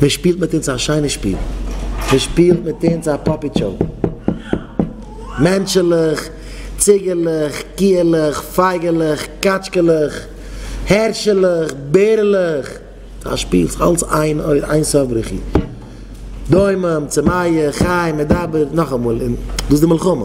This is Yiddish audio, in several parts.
מען שפילט מיט אונז א שיינע שפיל, מען שפילט מיט אונז א פאפיט שאו. מענטשעלעך, ציגעלעך, קיעלעך, פייגעלעך, קאטשקעלעך, הערשעלעך, בערעלעך, א שפיל, ס'איז אלץ איין איין סוף בריחי. דומם, צמאה, חי, מדבר, נאכאמאל, און דאס איז די מלחמה.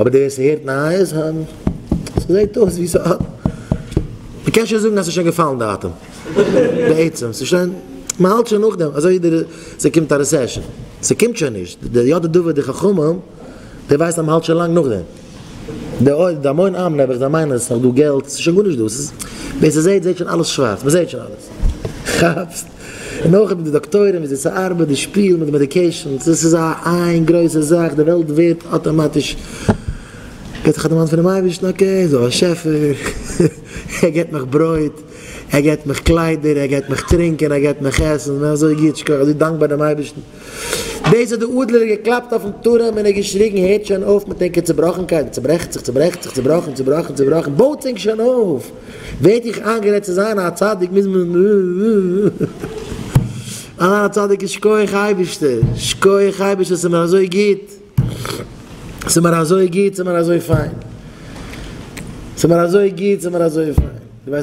אבער די וועסט הערט נייעס היינט? ס'זעהט אויס ווי ס'האט. מ'קען שוין זאגן אז ס'איז שוין געפאלן די אטעם. בעצם ס'איז שוין. מ'האלט שוין נאכדעם אזוי ווי די. ס'קומט א רעסעשאן. ס'קומט שוין נישט. די יודע דבר די חכמים. די ווייסט אז מ'האלט שוין לאנג נאכדעם. די אויב די המון עם נעבעך זיי מיינען אז ס'איז נאך דא געלט. ס'איז שוין גארנישט דא. ס'איז. ווער ס'זעהט זעהט שוין אלעס שווארץ. מ'זעהט שוין אלעס. כאפסט? און אויך מיט די דאקטוירים וויאזוי ס'ארבעט די שפיל מיט די מעדיקעישאנס, דאס איז א איין גרויסע זאך, די וועלט ווערט אטאמאטיש ווערט איך א דערמאנט פונעם אייבערשטן, אקעי ס'דא א שעפער, ער געבט מיך ברויט, ער געבט מיך קליידער, ער געבט מיך טרינקען, ער געבט מיך עסן, אזוי גוט, שכוח, אזוי דאנקבאר דעם אייבערשטן. דאס האט די אדלער געקלאפט אויפן טורעם און ער געשריגן, הערט שוין אויף מיט ענקער צעבראכנקייט, מען צעברעכט זיך, צעברעכט זיך, צעבראכן, צעבראכן, צעבראכן, בויטס ענק שוין אויף! ווערט איך איינגערעדט צו זיין א צדיק מוז מען זיין א צדיק און שקויעך אייבערשטער, שקויעך אייבערשטער ס'איז מיר אזוי גוט, ס'איז מיר אזוי גוט, ס'איז מיר אזוי פיין, ס'איז מיר אזוי גוט, ס'איז מיר אזוי פיין.